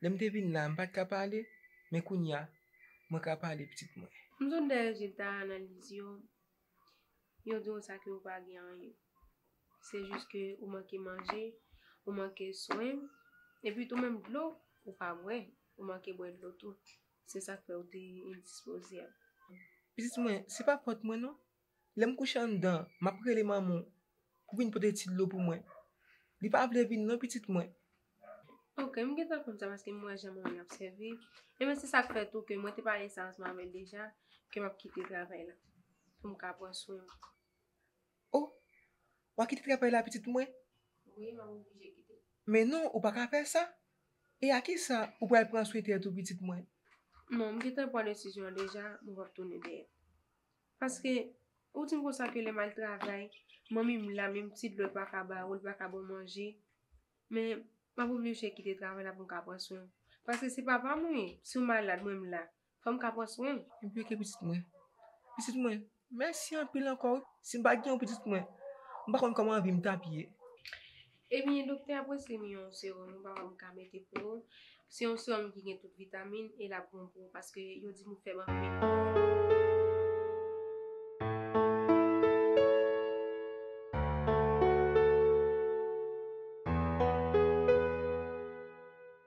Lè m te vin la, m pa t ka pale, men kounye a, mwen ka pale pitit mwen. M sot dèyè rezilta analiz yo, yo di w sa ke ou pa gen anyen. Se jis ke ou manke manje, ou manke swen, epi tou menm dlo ou pa bwè, ou manke bwè dlo tou. Se sa k fè ou te endispozyab. Pitit mwen, se pa fòt mwen non, Lè m kouche anndan, m ap rele manman w pou w vin pote ti dlo pou mwen. Li pa vle vin non pitit mwen. Ok, m gentan konn sa paske m wè jan manman l ap sèvi. Enben se sa k fè tou ke mwen te pale sa ansanm avè l deja ke m ap kite travay la pou m ka pran swen w. O! W a kite travay la pitit mwen? Wi, m ap oblije kite. Men non, ou pa ka fè sa! E a ki sa ou pral pran swen tèt ou pitit mwen? Non, m gentan pran desizyon an deja, mwen p ap tounen dèyè. Paske ou di m konsa ke lè m al travay, manmi m la menm ti dlo l pa ka ba ou, l pa ka ba w manje. Men, m ap oblije kite travay la pou m ka pran swen w. Paske se papa m ou ye. Si w malad, mwen m la. Fò m ka pran swen w. Enplike pitit mwen. Pitit mwen, mèsi anpil ankò wi. Si m pa t gen w pitit mwen, m pa konn kòman vi m t ap ye. Ebyen doktè ap preskrib m yon serum ou pa wè m ka mete pou ou, se yon serum ki gen tout vitamin e lap bon pou ou paske yo di m ou fèb anpil.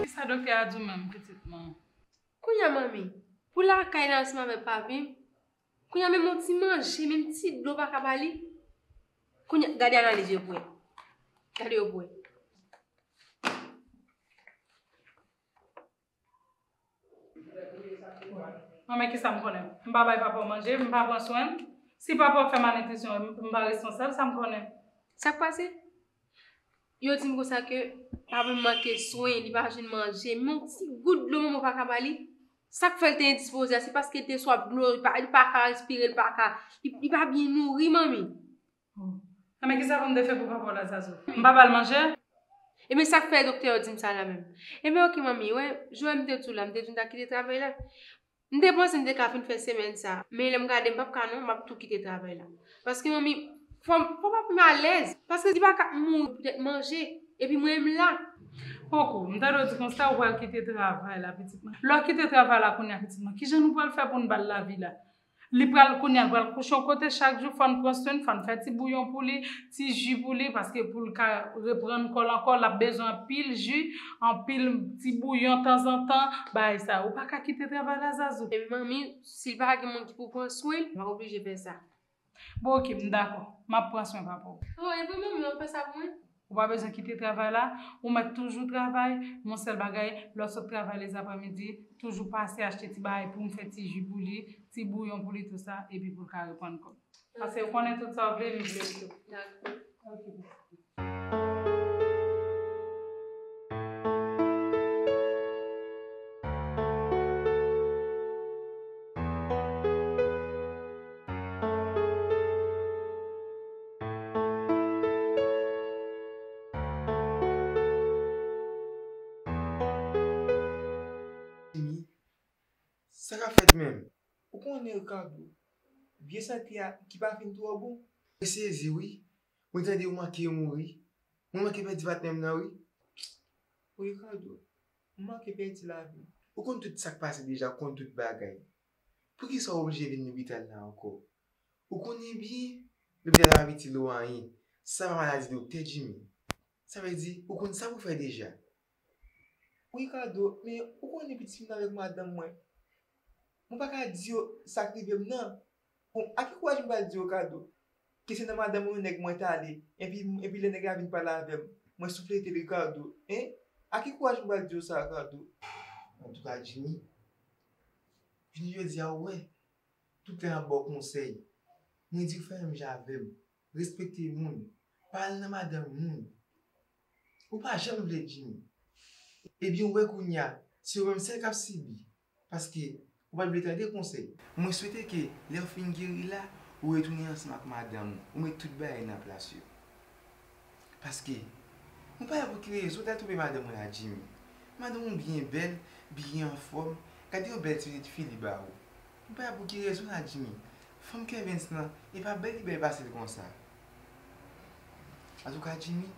Kisa doktè a di w menm pitit mwen? Kounya manmi, pou lakay la ansanm avèk papi, kounya menm yon ti manje, menm ti dlo pa ka ba li? Kounya, gade analiz yo pou wè. Gade yo pou wè. Mwen men kisa m konnen. M pa bay papa w manje, m pa pran swen l. Si papa w fè malnitrisyon, m pa responsab, sa m konnen? Sa k pase? Yo di m konsa ke papa m manke swen, li pa jwenn manje, menm yon ti gout dlo manman w pa ka ba li? Sa k fè l te endispoze a, se paske l te swaf dlo, li pa ka respire, li pa ka, li pa byen nouri manmi. Bon. Enben kisa pou m te fè pou papa w la Zazou? M pa ba l manje? Enben sa k fè doktè yo di m sa la menm? Enben ok manmi, ou wè, jounen m te tou la, m te vin ta kite travay la. M te panse m te ka fin fè semèn sa a, men lè m gade m p ap ka non, m ap tou kite travay la. Paske manmi, fò m, fò papa m alèz. Paske li pa ka mouri poutèt manje. Epi mwen m la. Koko, m tande w di konsa, ou pral kite travay la pitit mwen. Lè w kite travay la kounya pitit mwen, kijan nou pral fè pou n ba l lavi la? Li pral kounya l pral kouche yon kote chak jou fòn pran swenn fòn fè ti bouyon pou li ti ji pou li paske poul ka reprann kòl ankò lap bezwen anpil ji anpil ti bouyon tanzantan bagay sa yo ou paka kite travay la zazou. Epi manmi si l pa gen moun ki pou pran swen l lap oblije fè sa. Bon ok m dakò map pran swen papaw. Bon epi manmi wap fè sa pou mwen. Ou pa bezwen kite travay la, ou mèt toujou travay, men yon sèl bagay, lè w sot travay lezapremidi, toujou pase achte ti bagay pou m fè ti ji pou li, ti bouyon pou li tou sa, epi pou l ka repann kò l. Pase ou konnen tout sa w vle, li vle l tou. Dakò. Ok, bonswa. Sa kap fèt menm? Ou konnen Ricardo, vye sante a ki pa fin twò bon? Mwen sezi wi, mwen tande yo manke mouri, mwen manke pèdi patnèm nan wi. Ricardo, ou manke pèdi lavi. Ou konn tout sak pase deja, ou konn tout bagay. Poukisa w oblije vin lopital la ankò? Ou konnen byen lopital la pap itil ou anyen. Sa pa maladi doktè Djimi. Sa vle di ou konn sa pou w fè deja. Ricardo, men ou konnen pitit fi m nan avèk madanm mwen. Mwen pa ka di yo sa k rive m nan. Bon, ak ki kouraj m pral di yo kado? Ke se nan madanm yon nèg mwen t ale, enpi, enpi lè nèg la vin pale avè m, mwen souflete l Ricardo, hein? Ak ki kouraj m pral di yo sa, Ricardo? Antouka Jimmy, vini jodi a ou wè, tout lè m ap ba w konsèy, mwen di w fè menm jan avè m, respekte moun, pa al nan madanm moun. Ou pa janm vle Jimmy. Ebyen ou wè kounye a, se ou menm sèl k ap sibi. Paske ou pat vle tande konsèy. Mwen swete ke lèw fin geri la ou retounen ansanm ak madanm ou, ou met tout bagay nan plas yo. Paske Mwen pa wè pou ki rezon ou tal twouve madanm ou la Jimmy. Madanm ou byen bèl, byen anfòm, gade yon bèl ti pitit fi li ba ou. Mwen pa wè pou ki rezon la Jimmy. Fanm Kervens lan e pa bèl li bèl pasel konsa. Antouka Jimmy,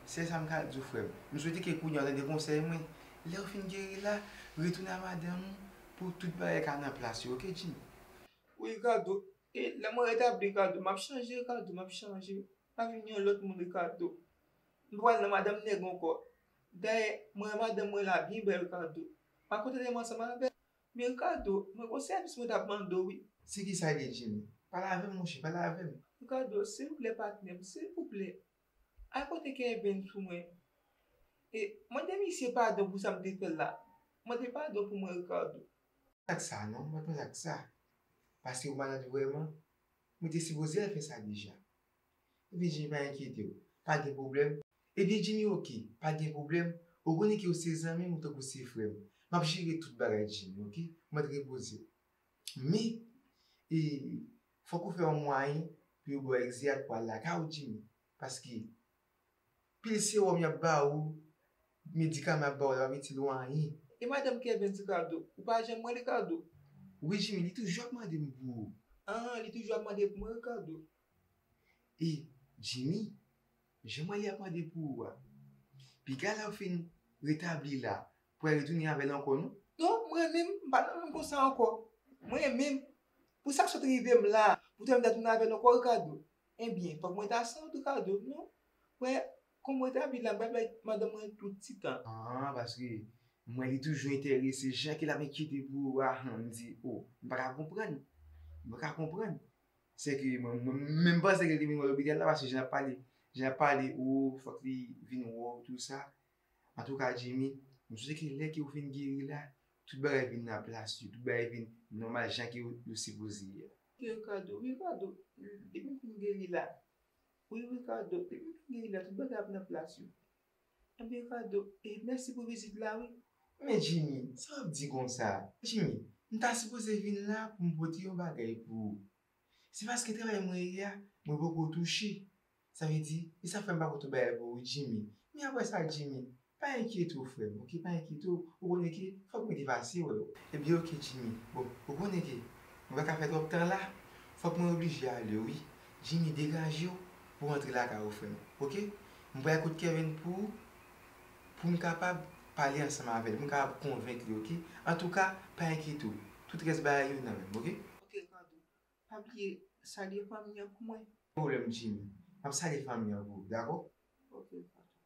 sèl sam ka diw frèm, m swete ke kounya ou tande konsèy mwen, Lèw fin geri la, retounen a madanm ou pou tout bagay ka nan plas yo ok Jimmy. Wi Ricardo, e lè mwen retabli Ricardo, map chanje Ricardo, map chanje, map vin yon lòt moun Ricardo. M pa pral nan madanm nèg ankò. Dayè, mwen wè madanm mwen la byen bèl Ricardo. Mwen kontante m ansanm avèl. Men Ricardo, mwen gen yon sèvis mwen tap mande w wi. Se kisa li Jimmy? Pale avèm monchè, pale avèm. Ricardo, silvouplè patnèm, silvouplè, Ay kote Kevin sou mwen. E mande misye padon pou sa m te fè l la. Mande padon pou mwen Ricardo. Mwen ak sa non mwen pral ak sa paske ou malad vrèman mwen te sipoze al fè sa deja ebyen Jimmy pa enkyetew pa gen pwoblèm ebyen Jimmy ok pa gen pwoblèm ou konnen ke ou se zanmim ou tankou se frèm map jere tout bagay Jimmy ok mèt repozew men e Fok ou fè yon mwayen pou yo baw egzi ak pral lakay ou Jimmy paske pil sewòm yap ba ou medikaman yap ba ou la pap itil ou anyen. E madanm kevens Ricardo ou pa janm wèl Ricardo. Wi Jimmy li toujou ap mande m pou ou. Anh li toujou ap mande pou mwen Ricardo. E Jimmy Jan Mali ap mande pou ou a. Piga lèw fin retabli la pou al retounin avèl ankò non. Non m renminm m pa nan moun konsa ankò m renminm pou sak sot rivem la pou tèm ta tounin avèl ankò Ricardo ebyen fòk mwen ta san ou Ricardo non wè kòm m retabli la m pral bay madanm mwen tout ti tan an paske m wè li toujou entèrese jan ke lap enkyete pou ou a han m di oh m paka konprann m paka konprann Se ke mwen menm panse ke li te vin wè lopital la paske jan lap pale, jan lap pale oo fòk li vin wè w tou sa. Antouka Djimi, m swete ke lè ke ou fin geri la, tout bagay vin nan plas yo, tout bagay vin nòmal jan ke yo sipoze ye. Ricardo, Ricardo, depi m fin geri la, wi Ricardo, depi m fin geri la tout bagay ap nan plas yo. Ebyen kado e mèsi pou vizit la wi. Men Jimmy, sa wap di konsa? Jimmy, m ta sipoze vin la pou m pote yon bagay pou ou. Se paske travay mwen ye a, mwen poko touche. Sa vle di, e sa fè m pa pote bagay pou ou Jimmy. Men aprè sa Jimmy, pa enkyete w frè m ok, pa enkyete w, ou konnen ke fòk mwen te pase wè w. Ebyen ok Jimmy, bon ou konnen ke mwen pa ka fè twòp tan la, fòk mwen oblije ale wi. Jimmy degaje w, Pou rantre lakay ou frèm ok. M pral kot Kervin pou poum kapab pale ansanm avèl poum kapab konvenk li ok antouka pa enkyete w tout rès bagay yo nan menm ok. Ok Cardo pa bliye salye fanmi an pou mwen. Gen pwoblèm Jimmy map salye fanmi an pou ou dakò. Ok Cardo.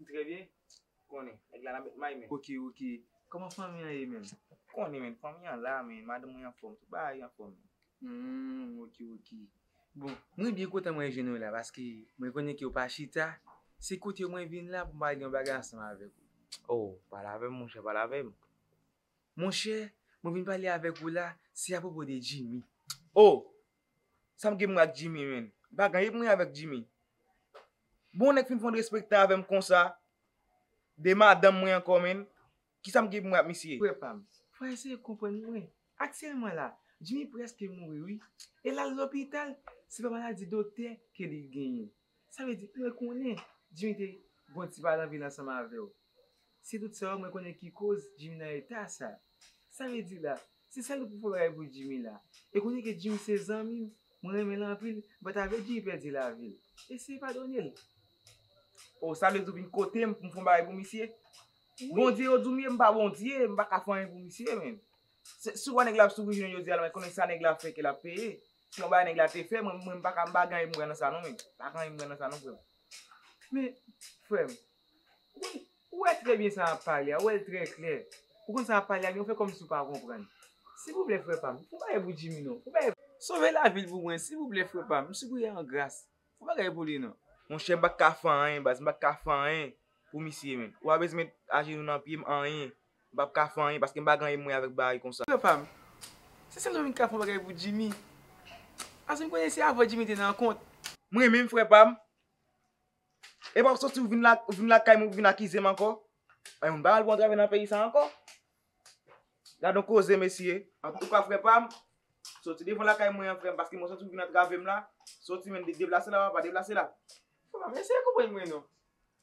M trè byen konnen nèg la nan met may men. Ok ok, kòman fanmi an ye menm? Ou konnen men, fanmi an la men, madanm mwen anfòm, tout bagay anfòm men. Humm ok ok, bon mwen byen kontan mwen jwenn ou la paske mwen konnen ke ou pa chita, se kote ou mwen vin la pou m pale yon bagay ansanm avèk ou. Oh, pale avè m monchè, pale avè m. Monchè, mwen vin pale avèk ou la, se apwopo de Jimmy. Oh! Sam gen pou mwen ak Jimmy menn. M pa gen anyen pou mwen avèk Jimmy. Bon nèg fin pran derespektan avèm konsa de madanm mwen ankò menn. Kisam gen pou mwen ak misye. Frè pam, fwa eseye konprann mwen. Aktyèlman la, Jimmy prèske mouri wi. E lal lopital, se pa maladi doktè ke li genyen. Sa vle di, mwen konnen Jimmy te gon ti pa nan vil ansanm avèw. Se tout sa yo mwen konnen ki koz Jimmy nan eta sa. Sa vle di la, se sèl ou pou fè bagay pou Jimmy la. E konnen ke Jimmy se zanmim, mwen renmen l anpil, m pa ta vle Jimmy pèdi lavi l. Eseye padone l. Oh, sa vle di ou vin kote m pou m fè yon bagay pou misye? Bondye yo di w m ye, m pa Bondye, m pa ka fè anyen pou misye menm. Si w wè nèg la ap soufri jounen jodi a la, mwen konnen sa nèg la fè ke l ap peye. Yon bagay nèg la te fè mwen mwen paka m pa gen anvi m pran nan sa non mwen pa gen anvi m pran nan sa non frè m men frè m ou konn ou wè trè byen sa map pale a ou wè l trè klè ou konn sa map pale a men ou fè kòmsi ou pa konprann silvouplè frè pa m fon bagay pou Djimi non fon bagay sove lavi l pou mwen silvouplè frè pa m m sipriye an gras fon bagay pou li non. Monchè m pa t ka fè anyen baz m pa t ka fè anyen pou misye menn ou pa bezwen met ajenou nan pye m anyen M pap ka fè anyen paske m pa gen anyen pou mwen avèk bagay konsa. Frè pa m, se sèl ou menm ki ka fè yon bagay pou Jimmy. Paske m konnen se avè w Jimmy te nan kont. M renmen frè pa m. E pa w soti ou vin lakay mwen pou vin akize m ankò. Ebyen m pa al pou yon travay nan peyi sa ankò. Gad yon koze mesye. Antouka frè pa m, soti devan lakay mwen an frè m paske mwen santi ou vin antrave m la. Soti menm deplase la papa, deplase la. Frè pa m, eseye konprann mwen non.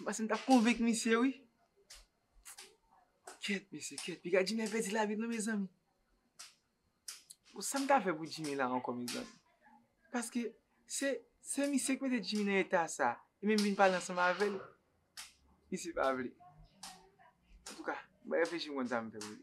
M panse m ta konvenk misye wi. Kèt mesye kèt piga Jimmy ap pèdi lavi l non mezanmi. Bon sa m ka fè pou Jimmy la ankò mezanmi. Paske se se misye ki mete Jimmy nan eta sa. Li menm vin pale ansanm avè l. Misye pa vle. Antouka m pral reflechi m konn sa m fè pou li.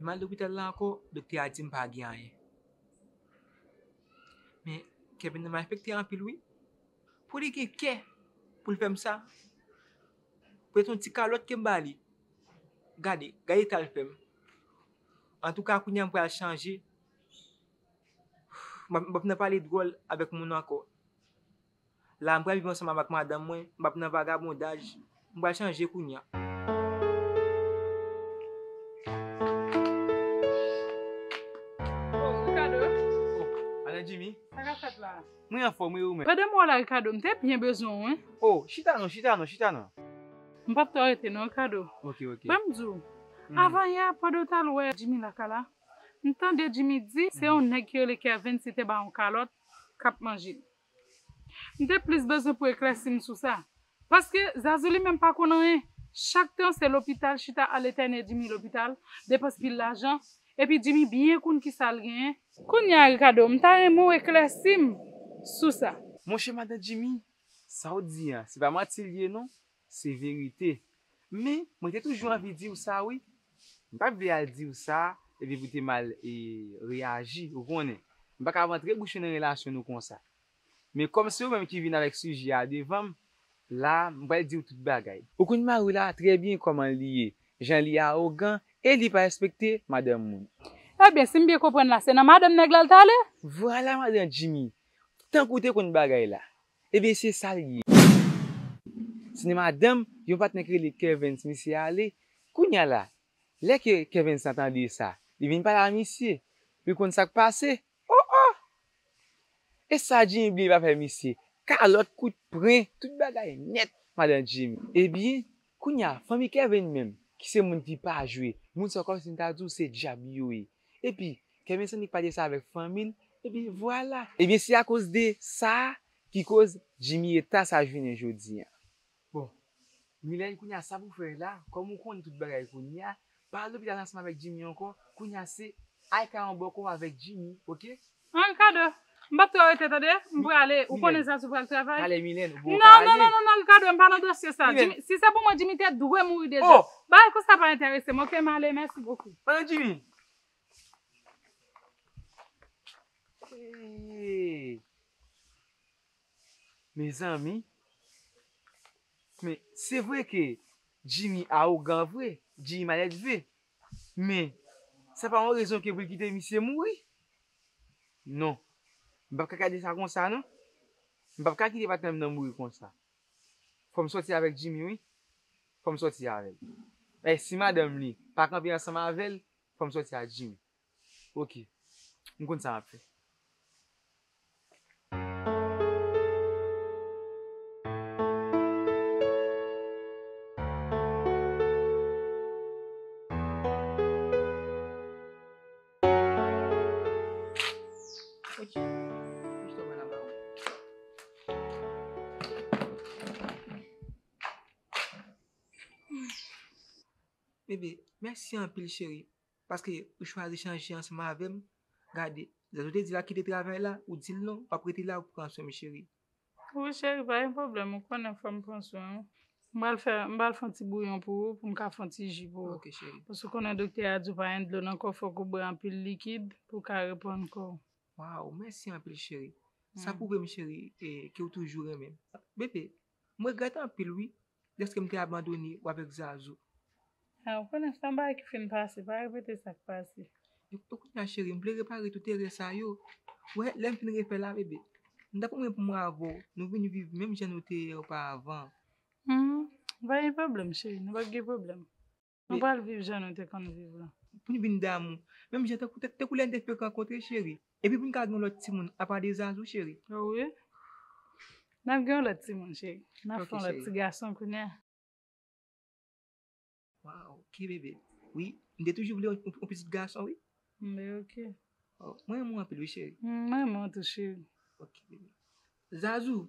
Mwen al lopital la ankò, doktè a di m pa gen anyen. Men, kè Venda malfekte anpil wi. Pou li gen kè pou l fè m sa? Pou l se yon ti kalòt ke m ba li? Gade, gade eta l fè m. Antouka, kounye a m pral chanje. M ap nan pale dwòl avèk moun ankò. La m pral viv ansanm avak madanm mwen, m pap nan vagabondaj, m pral chanje kounya. Oh Ricardo. Oh Madan Jimmy. Sa kap fèt la? Mwen anfòm wi e ou menm? Pandan m wè w la Ricardo, m te byen bezwen w wi. Oh chita non, chita non, chita non. M pap twò rete non Ricardo. Ok, ok. Ban m di w, avan yè pandan w t al wè Jimmy lakay la, m tande Jimmy di se yon nèg ki rele Kervens ki te ba w yon kalòt kap manje. M te plis bezwen pou eklèsi m sou sa. Paske Zazou li menm pa konn anyen. Chak tan se lopital chita ale tènye Jimmy lopital, depans pil lajan, epi Jimmy byen konn kisa l genyen. Kounye a Ricardo, m ta renmen w eklèsi m sou sa. Monchè madan Jimmy, sa w di an, se pa manti l ye non. Se verite. Men, mwen te toujou anvi di w sa wi. M pa t vle al di w sa epi pou te mal reyaji, ou konnen. M pa ka rantre bouch yo nan relasyon nou konsa. Men kòm se ou menm ki vin avèk sijè a devan m, la a, m pral di w tout bagay. Ou konn mari w la trè byen kòman li ye, jan li awogan e li pa respekte madanm moun. Ebyen, si m byen konprann la, se nan madanm nèg la l t ale? Vwala madan Djimi! Tankou w te konn bagay la. Ebyen se sa l ye. Sine madanm yon patnè ki rele Kervens misye ale. Kounya la, lè ke Kervens lan tande sa, li vin pale a misye. Li konn sa k pase. O o! E sa Jimmy bliye pa fè misye. Kalòt, kout pren, tout bagay nèt madan Jimmy. Ebyen, Kounya fanmi Kevin menm ki se moun ki pa jwe, moun sa yo kòmsi m ta di w se djab yo ye. Epi Kevin Sandy pale sa avèk fanmi l epi vwala. Ebyen se akoz de sa ki koz Jimmy eta sa jounen jodi an. Bon Milène kounya sa pou fè la kòm ou konn tout bagay kounya Pa lopital asma avèk Jimmy ankò kounya se Aikaron bòkò avèk Jimmy ok. An Ricardo m pap twò rete tande m prale ou konnen sa si w pral travay. Pale Milène ou bon w ka ale. Non non non Ricardo m pa nan dosye sa Jimmy si se pou mwen Jimmy te dwe mouri deja bagay konsa pa entèrese m ok m ale mèsi bokou. Pandan Jimmy eeeee. Mezanmi men se vre ke Jimmy arogan vre, Jimmy malèdve men sa pa yon rezon ke pou l kite misye mouri non m pap ka gade sa konsa non m pap ka kite patnè m nan mouri konsa fò m sòti avèk Jimmy wi fò m sòti avèl si madanm li pa kanpe ansanm avèl fò m sòti ak Jimmy. Ok m konn sa map fè. Bébé mèsi anpil cheri Paske ou chwazi chanje ansanm avèm gade zèl ou te di la kite travay la ou dil non wap rete la ou pran swenm cheri. Wi cheri pa gen pwoblèm ou konnen fòm pran swen ou. M pral fè m pral fon ti bouyon pou ou poum ka fon ti ji pou ou. Ok cheri. Paske ou konnen doktè a di w pa gen dlo nan kòw fòk ou bwè anpil likid pou w ka reprann kòw. Waw mèsi anpil cheri. Sa pwouvem cheri ke ou toujou renmenm. Bebe m regrèt anpil wi Deske m te abandone w avèk Zazou. Eeh ou konnen se yon bagay ki fin pase, pa repete sa k pase. Epi kounye a cheri m vle repare tout erè sa yo. Ou wè lè m fin refè la bebe. M ta pwomèt pou mwen avè w nou vin viv menm jan nou te ye opa avan. Humm pa gen pwoblèm cheri nou pap gen pwoblèm. Nou pral viv jan nou te konn viv lan. Pou n vin damou. Menm jan tankou lè n te fèk rankontre cheri. Epi pou n ka gen yon lòt timoun apa de Zazou cheri. O wi. N ap gen yon lòt timoun cheri. N ap fè yon lòt ti gason kounye a. Waw ok bebe. Wi m te toujou vle yon pitit gason wi. Bon ok. Mwen renmen w anpil wi cheri. M renmen w tou cheri. Ok bebe. Zazou.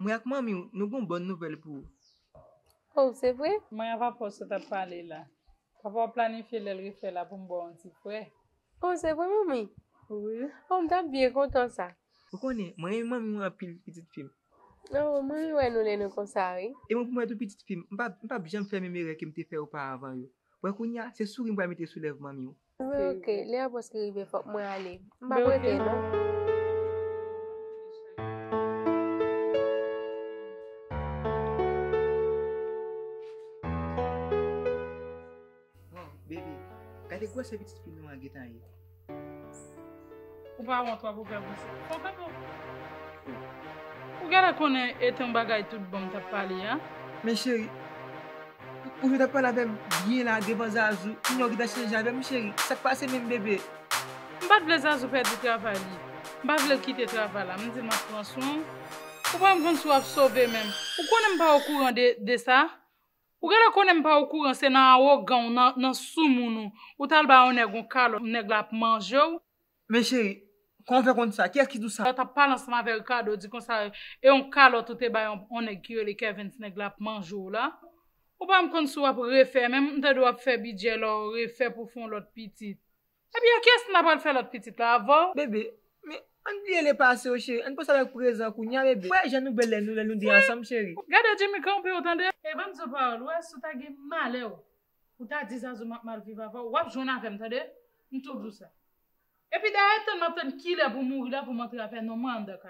Mwen ak manmi w nou gen yon bòn nouvèl pou ou. Oh, se vre? Mwen ak papa w sot ap pale la. Papa w planifye lè l refè la pou m ba w yon ti prè. Oh, se vre, manmi? Wi. Oh, m t ap byen kontan sa. Ou konnen, mwen renmen manmi w anpil, pitit fi m. Oh, m renmen wè nou lè nou konsa wi. E mwen pou mwen tou, pitit fi m. M pap janm fè menm erè ke m te fè oparavan yo. Wè kounye a, se souri m pral mete sou lèv manmi w. Mwen ok, lè a preske rive fòk mwen ale. M pap rete non. Gade gwosè pitit fi nou an gentan ye. Ou pa wont wap ouvè bouch ou. Fò kap ou. Ou genlè konnen et yon bagay tout bonm tap pale a. Men cheri. Ou jwe tap pale avèm byen la devan Zazou kounye a ou gentan chanje avèm cheri sak pase menm bebe. M pat vle Zazou pèdi travay li. M pa vlel kite travay la. M dil map pran swen w. Ou pa menm konn si wap sove menm. Ou konnen m pa okouran de sa. Ou genlè konnen m pa okouran se nan awogan w nan sou moun ou ou tal ba yon nèg yon kalòt nèg la ap manje w. Men cheri, kòman w fè konn sa? Kiyès ki di w sa? Lè w tap pale ansanm avè Ricardo di konsa e yon kalòt ou te bay yon nèg ki rele Kervens nèg la ap manje w la. Ou pa menm konn si w ap refè menm, m tande w ap fè bidjè la w refè pou w fè yon lòt pitit. Epi ak yès na pral fè lòt pitit la avè w? Bebe, Men, ann bliye le pase yo cheri, ann panse avèk prezan kounya bebe. Wè jan nou bèl lè nou lè nou 2 ansanm cheri. Gade Jimmy kanpe w tande. E bann zo pawòl, wè si w ta gen malè w pou ta di Zazou map mal viv avè w, wap jwenn avè m tande, m toujou sa. Epi dayè tann map tann kilè pou mouri la pou m antre avè non mwen anndan kay la.